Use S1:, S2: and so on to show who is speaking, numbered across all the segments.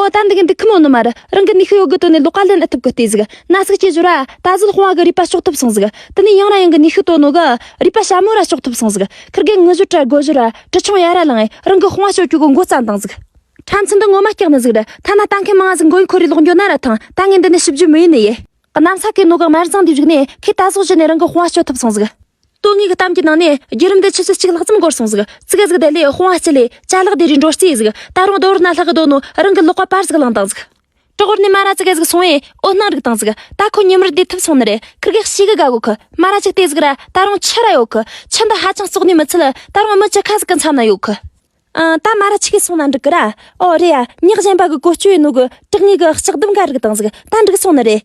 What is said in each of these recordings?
S1: ཨོ་ད་འདི་གི་འདི་ཁི་མོ་ནུ་མ་རི་རང་གི་ནི་ཤི་ཡོ་གི་དོན་ནི་ལོ་ཀ་ལན་ཨི་ཐུབ་གི་ལྟས་ཟིག་ན་ཟིག་ཅེས་བྱོས་ར་ད་གཟིག་ལྷུང་བ་གི་རུས་པ་གཤོག་ཐུབ་སོང་ཟིག་དི་ནི་ཡང་ར་ཡང་གི་ནི་ཤི་དོ་ནུ་གི་རུས་པ་ཞྭ་མོ་ར་གཤོག་ཐུབ་སོང་ཟིག་ཁི་རྒན་ངུ་བཞོ་ཀྲ་གོ་བཞོ་ར་ཀྲི་ཆུང་ཡ་ར་ལང་ཨེ་རང་གི་ལྷུང་བ་ཤོ་ཀྱུ་གི་མགོ་རྩ་འདང་ཟིག་ཁྲ་མཚི་འདི་ངོ་མ་སྐྱག་ནི་ཟིག་རི་ཐ་ན་ལྟ་མཁན་མང་ང་ཟིག་མགོ་ཡི་འཁོར་རི་ལོག་འགྱོ་ན་ར་ཐང་ད་ངའི་འདི་ནི་ཤི་བརྒྱུད་མི་ཡི་ནི་ཡི་གནམ་ས་ཀི་ནུ་གི་དམར་ཟངས་དེ་བཞུགས་ནས་ཁི་ད་གཟོག་བཞི་ནི་རང་གི་ལྷུང་བ་ཤོ་ཐུབ་སོང་ཟིག། ལྟོ་ངེས་ཀྱི་གཏམ་གྱི་ནང་ནས་རྒྱུད་རིམ་འདི་ཆུ་ཚོད་གཅིག་ལྷག་ཙམ་འགོར་སོང་ཟིག་ཙི་ག་ཟིག་བསྡད་ལས་སྤོང་བ་སྤྱི་ལེ་ཅཱ་ལག་བསྡད་རུས་འགྲོ་རྩིས་ཟིག་ད་རུང་རྡོ་བར་ན་ལྷག་གི་སྡོད་ནོ་རང་གི་ལོག་པ་པར་ཟིག་བླངས་དང་ཟིག་ཀྲོག་བར་ནས་སྨ་ར་ཙི་ག་ཟིག་སོང་བས་འོ་སྣང་རིག་དང་ཟིག་ད་ཁོ་ཉིན་མོར་བསྡད་ཐུབ་སོང་ནི་རེད་ཁི་རྒེག་ཤི་གི་ག་གོ་ཁི་སྨ་ར་ཅིག་བལྟས་ཟིག་ར་ད་རུང་ཆི་ར་ཡོད་ཁི་ཆི་འདི་ཧ་ཅང་བཙོག་ནས་མི་ཚུད་ད་རུང་མི་ཅི་ཁ་ཟིག་གི་མཚམས་ན་ཡོད་ཁི་ཨང་ད་སྨ་ར་ཆི་གས་སོང་ན་འགྲིག་གི་ར་ཨོ་རེད་ཡ་ཉག་གཞན་པ་གི་གོ་སྐྱོ་ཡིན་ནོ་གི་དྲག་གཉིས་གི་ལྕགས་ཟླུམ་ག་རིག་དང་ཟིག་ད་འགྲིག་སོང་ནི་རེད།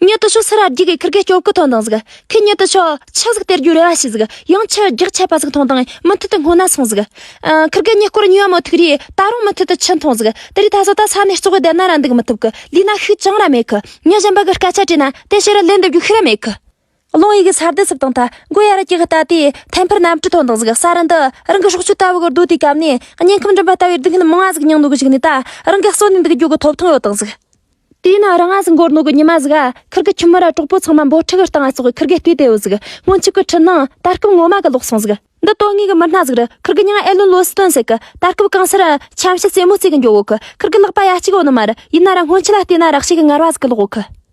S1: ཉོལ་དུ་ཆོག་སེ་ར་རྒྱུག་གི་ཁུར་གས་སྐྱོབ་གུ་ཐོན་དང་ཟིག་ཁུ་ཉོལ་དུ་ཆོག་ཆུ་ཟིག་སྟེར་རྒྱུ་རེ་བ་ཤི་ཟིག་ཡང་ཆུ་རྒྱག་ཆད་པ་ཟིག་ཐོན་དང་མུ་མཐུད་དུ་སྔོ་ན་སོང་ཟིག་ཁུར་གས་ཉེ་སྐོར་ཉོས་བ་མོ་ཐུག་རི་ད་རུང་མུ་མཐུད་དུ་ཆུ་འཐོན་ཟིག་དེ་རི་ད་གཟོད་ད་ས་ནས་ལྕོག་གི་བསྡད་ན་ར་འདུག་མི་ཐུབ་གི་ལུས་ན་ཤུགས་ཅང་ར་མེད་གི་ཉོལ་གཞན་པ་གི་སྐད་ཆ་དྲིས་ན་དེ་ཕྱི་རུ་ལན་འདེབས་རྒྱུ་ཤི་ར་མེད་གི། རླུང་ཡིག་ས་རྡུལ་སིབ་དང་ཐ་འགོས་ཡར་བཀྱགས་ལྟ་དེ་ཐལ་འཕུར་གནམ་གྲུ་ཐོག་འདང་ཟུག་ས་རི་འདི་རང་གི་སྲོག་གཅོད་ལྟ་བུ་གི་རྡོ་དེའི་གམ་ནས་སྙིང་ཁམས་འགྲིམ་པ་ལྟ་བུའི་སྡུག་བསྔལ་མང་ང་ཟིག་མྱང་ནུ་གི་ཞིག་ནས་ད་རང་གི་གསོན་ནི་འདི་གི་རྒྱུ་གི་ཐོབ་ཐང་ཡོད་དང་ཟིག། དེ་ཡིན་ན་རང་ང་ཟིག་མགོར་ནུ་གི་ཉི་མ་ཟིག་ཨ་ཁིར་གི་ཁྱིམ་མི་ར་གྲོགས་པོ་ཚང་མ་འབོ་ཁྲི་གི་རྟ་ང་སོགས་ཁིར་གི་ལྟོས་དེ་ཡོད་ཟིག་སྔོན་ཆུ་གི་ཁྲི་ནང་ད་སྐབས་ངོ་མ་གི་ལོག་སོང་ཟིག་འདི་དོན་དངོས་གི་མི་སྣ་ཟིག་རི་ཁིར་གི་ཉང་ཨེ་ལོན་ལོ་སི་ཏོན་ཟེ་གི་ད་སྐབས་གང་སར་ཁྱམས་བྱ་རྩེ་མོ་རྩེ་གི་འགྱོ་འོག་ཁིར་གི་ལག་པ་ཡ་གཅིག་ཡོད་ནི་མ་རི་ཡིན་ན་ར་སྔོན་ཆུ་ལ་ལྟོས་ན་རག་ཤེས་གི་ངར་བ་ཟིག་གི་ལོག་འོག་ཁི།